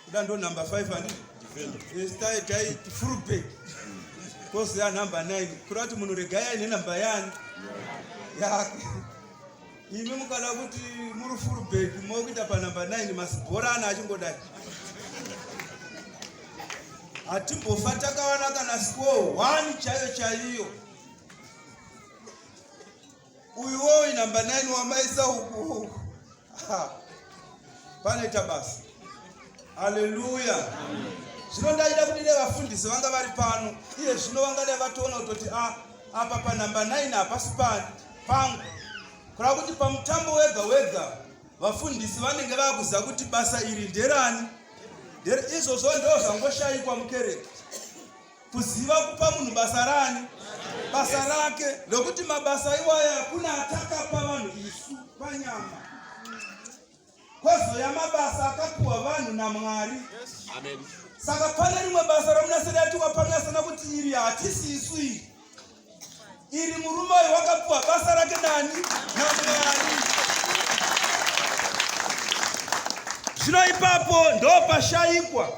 Kuda ndo number 5 ani? Estai tai full pay. Kosi ya number 9. Kurati munhu regaya ine number yani. Ya. Imi mukada kuti muri full pay mokuita pa number 9 masibhorana achingodai. Hatimbofa takawana kana score 1 chaiyo chaiyo. Uyu woyi number 9 wamaisa huku. Pane tabasa. Haleluya. Zvino ndaida kuti nevafundisi vanga vari pano. Iye zvino vangadai vatoona kuti ah apa pa number 9 hapasi pano pangu. Kura kuti pamutambo wega wega vafundisi vanenge vakuziva kuti basa iri nderani. Izvozvo ndozvangoshaikwa mukereke. Kuziva kupa munhu basa rani? Basa rake. Nokuti mabasa iwaya hakuna atakapa vanhu isu panyama. Kwazouya mabasa akapiwa vanhu naMwari. Amen. Saka pane rimwe basa ramunaseri atiwa panasana kuti iri hatisi isu iri. Iri murume uyu wakapiwa basa rake nani? NaMwari. Zvino ipapo ndopashaikwa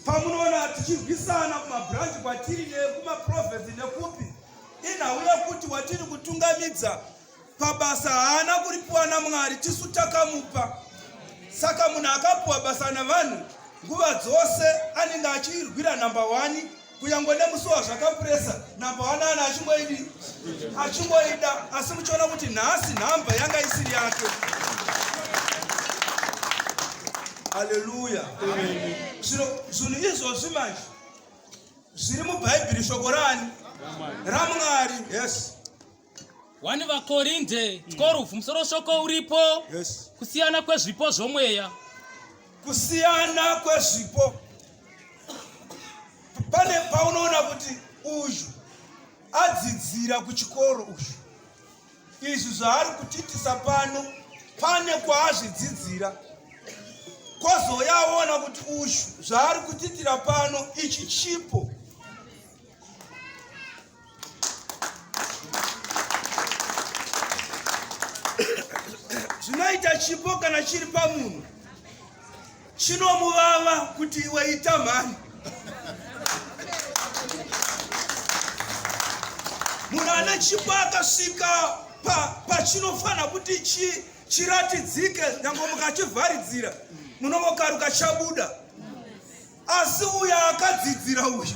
pamunoona tichirwisana kumabranch kwatiri nekumaprovinsi nekupi inhau yekuti watiri kutungamidza pabasa haana kuripiwa namwari tisu takamupa saka munhu akapiwa basa navanhu nguva dzose anenge achirwira number one kunyangwe nemusuwa zvakapuresa namba wanana achingoidi achingoida asi muchiona kuti nhasi nhamba yanga isiri yake haleluya zvinhu izvozvi manje zviri mubhaibheri shoko rani ramwari yes 1 vakorinde 12 mm. musoro shoko uripo yes. kusiyana kwezvipo zvomweya kusiyana kwezvipo pane paunoona kuti uyu adzidzira kuchikoro uyu izvi zvaari kutiitisa pano pane kwaazvidzidzira kwozouya aona kuti uyu zvaari kutiitira pano ichi chipo zvinoita chipo kana chiri pamunhu chinomuvava kuti iwe ita mhani munhu ane chipo akasvika pachinofanira pa kuti chi, chiratidzike nyange mukachivharidzira munovokaruka chabuda asi uyo akadzidzira uyu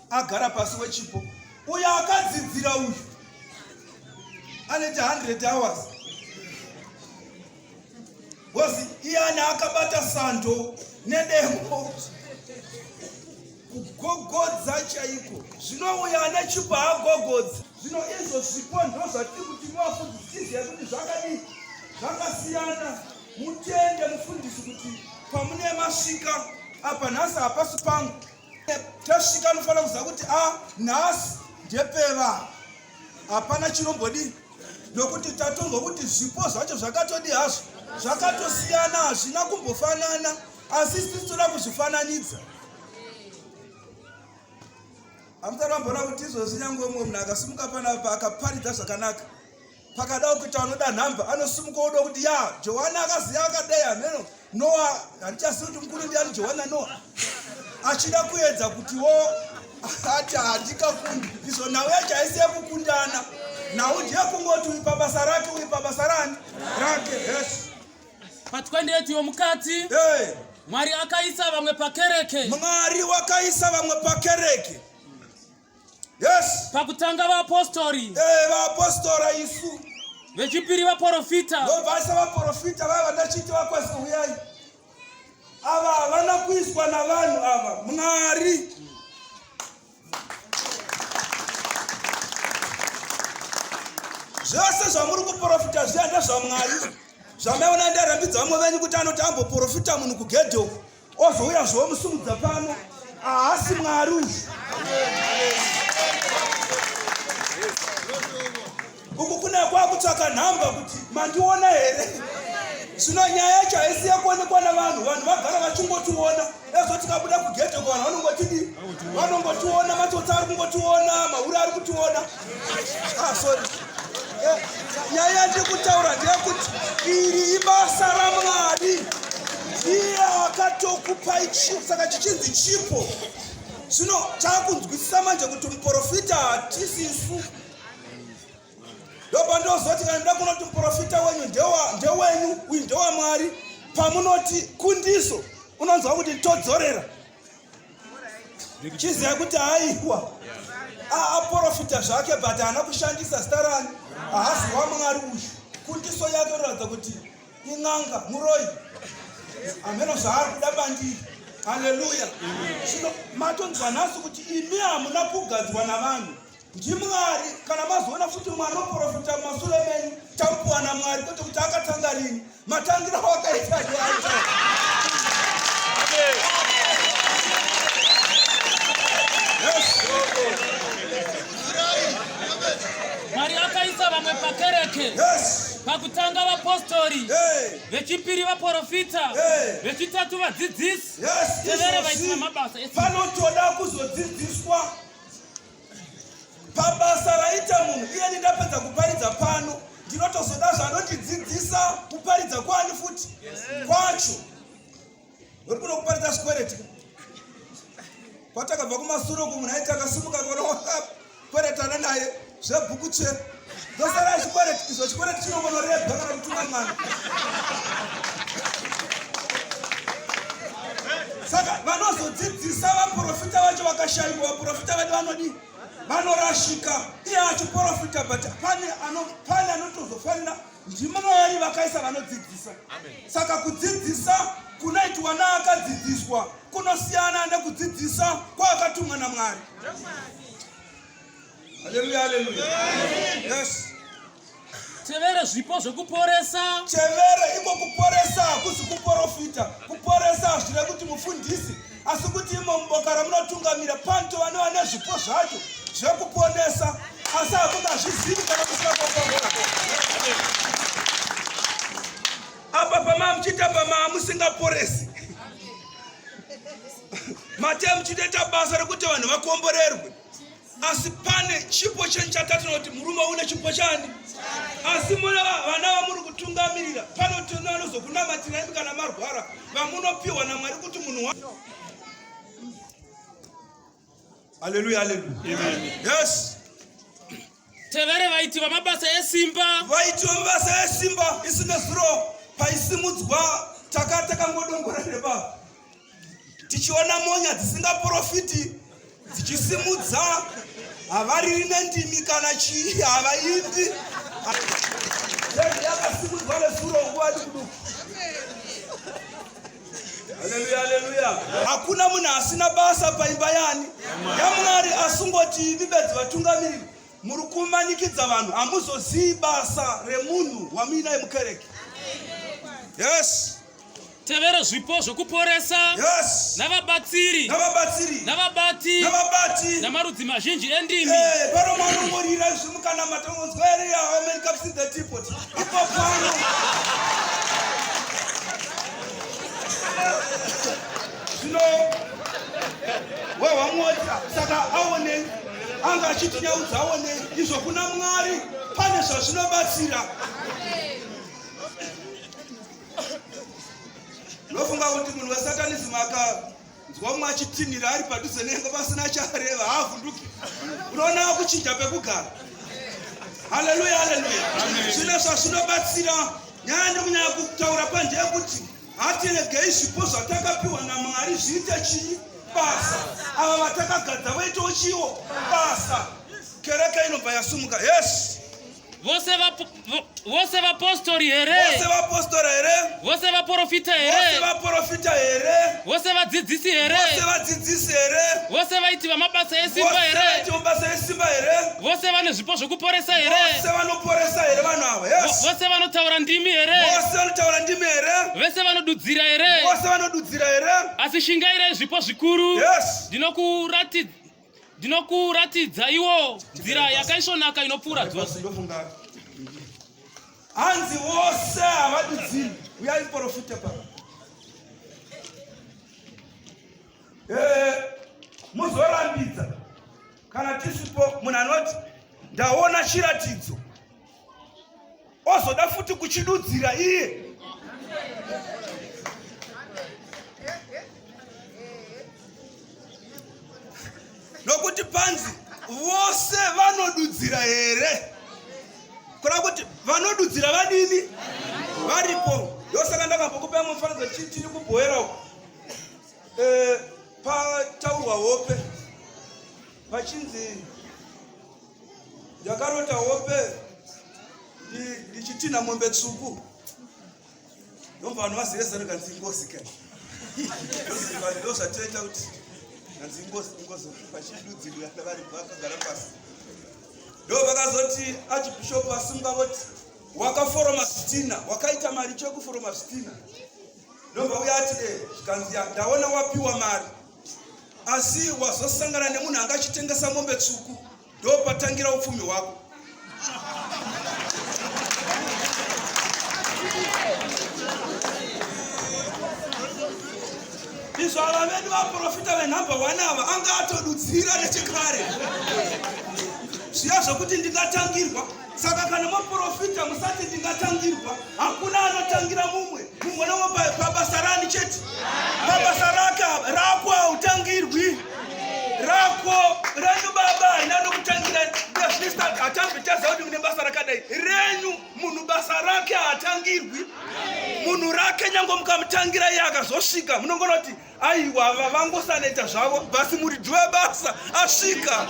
agara pasi wechipo uyo akadzidzira uyu anoita 100 hours bcause iyani akabata sando nedemo kugogodza chaiko zvino uyo ane chipo haagogodza zvino izvo zvipo ndo zvatiri kuti mwafudzisizi yekuti zvakadii zvakasiyana mutende mufundisi kuti pamunemasvika apa nhasi hapasi pangu tasvika anofanira kuziva kuti a ah, nhasi ndepeva hapana chinombodii nokuti tatonzwa kuti zvipo zvacho zvakatodi hazvo zvakatosiyana hazvina kumbofanana asi sisi toda kuzvifananidza hamusati vamboona kuti izvozvi nyangwe umwe munhu akasimuka panapa akaparidza zvakanaka pakada kuita anoda nhamba anosimuka oda kuti ya johani akaziva akadai hameno noa handichazivi kuti mukuru ndiani johani nanoa achida kuedza kutiwo ati handikakundi izvo nhau yacho haisi yekukundana nhau ndiyekungoti uri pabasa rake uri pabasa rani rake yes patwendetiwo mukati hey. mwari akaisa vamwe pakereke mwari wakaisa vamwe pakereke Yes. Pakutanga vaapostori. Eh, vaapostora isu. Vechipiri vaprofita. Ndobvasa vaprofita vava ndachiti vakwasi huyai. Ava havana kuiswa navanhu ava. Mwari. Zvose zvamuri kuprofita zviya ndezvamwari. Zvamaona ndarambidza vamwe venyu kuti anoti amboprofita munhu kugedhe uku. ozouya zvomusumudza pano haasi mwari uyu uku kune kwakutsvaka nhamba kuti mandiona here zvino nyaya yacho haisi yakuonekwa navanhu vanhu vagara vachingotiona ezvo tikabuda kugedhe ko vanhu vanongotiona matsotsi ari kungotiona mahure ari kutiona nyaya ndikutaura ndeyekuti iri ibasa ramwari iye akatokupai chipo saka chichinzi chipo zvino takunzwisisa manje kuti muprofita hatisisu ndopandozoti kana nda kunoti muprofita wenyu ndewenyu uyu ndewamwari pamunoti kundiso unonzwa kuti todzorera chiziva kuti aihwa aaprofita zvake but haana kushandisa zita rani haasi wamwari uyu kundiso yake unoratidza kuti in'anga muroi hameno zvaari kuda bandiri haleluya zvino matonzwa nhasi kuti imi hamuna kugadzwa navanhu ndimwari kana mazoona futi mwari oprofita masure menyu tapuwa namwari kwete kuti akatanga rini matangira wakaita ndiaita mwari akaisa vamwe pakereke yes pakutanga vapostori vechipiri vaprofita vechitatu vadzidzisi tevere vaisina mabasa vanotoda kuzodzidziswa pabasa raita munhu iyeni ndapedza kuparidza pano ndinotozoda zvanondidzidzisa kuparidza kwani futi kwacho uri kuno kuparidza zvikwereti kwatakabva kumasuro kumunhu aiti akasumuka kona kweretana naye zvebhuku chero ndosara zvikwereti izvo chikwereti chinongonorebwa kana kutuma mwana saka vanozodzidzisa vaprofita vacho vakashaiwa vaprofita vedu vanodii vanorashika iye achiprofita but pane pane anotozofanira ndimwari vakaisa vanodzidzisa saka kudzidzisa kunoitwa naakadzidziswa kunosiyana nekudzidzisa kwaakatumwa namwari Haleluya, haleluya. Yes. Tevera zvipo zvekuporesa. Tevera iko kuporesa hakusi kuporofita. Kuporesa hazvire kuti mufundisi asi kuti imo muboka ramunotungamira panto vanova nezvipo zvacho zvekuponesa asi hakungazvizivi kana kusina kwakwaa apa pamaa muchiita pamaa musingaporesi mate muchitoita basa rekuti vanhu vakomborerwe asi pane chipo chenyu chatatina kuti murume une chipo chani asi mune vana vamuri kutungamirira panotiona vanozokunamatirani imi kana marwara vamunopiwa namwari kuti munhu aleluya aleluya yes Tevere vaiti vamabasa esimba. Vaiti vamabasa esimba isina zuro paisimudzwa taka takangodongora neba tichiona monya dzisingaprofiti dzichisimudza havariri nendimi kana chii havaindi yakasimudzwa nezuro nguva dikuduku hakuna munhu asina basa paimba yani yamwari asungoti ivi bedzi vatungamiriri muri kumanikidza vanhu hamuzozii basa remunhu wamuinaye mukereke yes tevera zvipo zvokuporesa yes. navabatsiri navabatsiri navabati navabati namarudzi mazhinji endimi hey, eh, paro mwanongorira izvi mukanamata unonzwa here amen kapsi the depot zvino wehwamwodza saka aonei anga achitinyaudza aonei izvo kuna mwari pane zvazvinobatsira ndofunga kuti munhu wesatanism aka nzwa umwe achitinhira ari padhuze nengo pasina chareva haavhunduki unoona kuchinja pekugara haleluya haleluya zvino zvazvinobatsira nyaya ndikunyaya kutaura panje yekuti hatiregei zvipo zvatakapiwa namwari zviite chii basa ava vatakagadza vaitawo chiwo basa kereke inobva yasumuka yes Vose vapo- vo- vose vapostori vose here vapostora here vose vaprofita vose here vaprofita here vose vadzidzisi vose here vadzidzisi here vose vaiti vamabasa vose esimba here vaiti mabasa esimba here vose vane zvipo zvokuporesa here vose vanoporesa here vanhu ava Vo- yes vose vanotaura ndimi here vose vanotaura ndimi here vese vanodudzira here vose vanodudzira here asi shingairai zvipo zvikuru yes ndinokurati- ndinokuratidza iwo nzira yakaisvonaka inopfuura dzose hanzi vose havadudziri uyai muporofita pa eh, muzorambidza kana tisipo munhu anoti ndaona chiratidzo ozoda futi kuchidudzira iye nokuti panzi vose vanodudzira here kureva kuti vanodudzira vadini varipo ndosaka ndakambokupa imwe mufanidzo tiri kubhoera uko eh, pataurwa hope vachinzi Ndakarota hope ndichitina mombe tsvuku ndobva vanhu vazivesa nekanzi ingozi kai ndozvatoita kuti kanzi ingozi ingozi vachidudzirwa vari vakagara pasi ndo vakazoti achibhishopu vasunga voti wakaforoma zvitina wakaita mari chekuforoma zvitina ndobva uya ati e eh, zvikanzi ndaona wapiwa mari asi wazosangana nemunhu anga achitengesa mombe tsvuku ndopatangira upfumi hwako izvo ava vedu vaprofita venhamba one ava anga atodudzira nechekare zviya zvokuti ndingatangirwa Saka kana maprofita musati ndingatangirwa, hakuna anotangira mumwe. Mumwe nomwe pabasa rani chete. Pabasa raka rako hautangirwi. Rako renyu baba haina nokutangira. Ndezvinista hatambi taziva kuti mune basa rakadai. Renyu munhu basa rake haatangirwi. Munhu rake nyange mukamutangira iye akazosvika munongona kuti aiwa vavangosaneta zvavo basi muridzi webasa asvika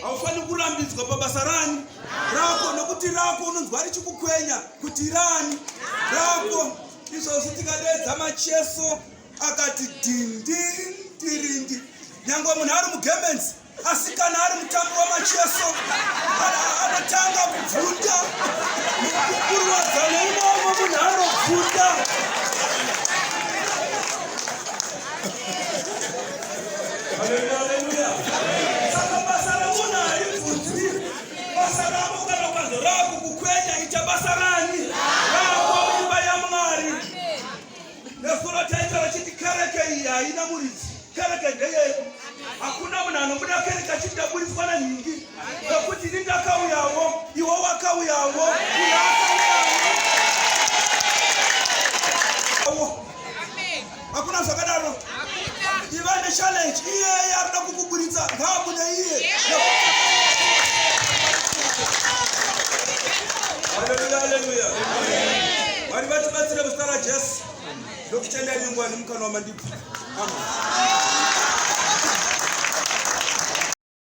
haufaniri kurambidzwa pabasa rani rako nokuti rako unonzwa richikukwenya kuti rani rako izvozvi tikadeedza macheso akati dindindirindi nyange munhu ari mugemenzi asi kana ari mutambi wamacheso anotanga kubvunda kurwadzana imomo munhu anobvunda saka basa remunhu haribvunzwi basa rako kana ukanzo raakukukwenya ita basa rani raakuimba yamwari Nezuro taita vachiti kereke iyi haina muridzi, kereke ndeyedu. Hakuna munhu anobuda kereke achiti ndaburitswa nenhingi, nokuti ini ndakauyawo, iwo wakauyawo, uyo akauyawo. Hakuna zvakadaro. Divine challenge iye anoda kukuburitsa ngaabude iye. Haleluya haleluya. Mwari vatibatsire muzita raJesu. Ndokutenda nyungwa nemukanwa mandibvira. Amen.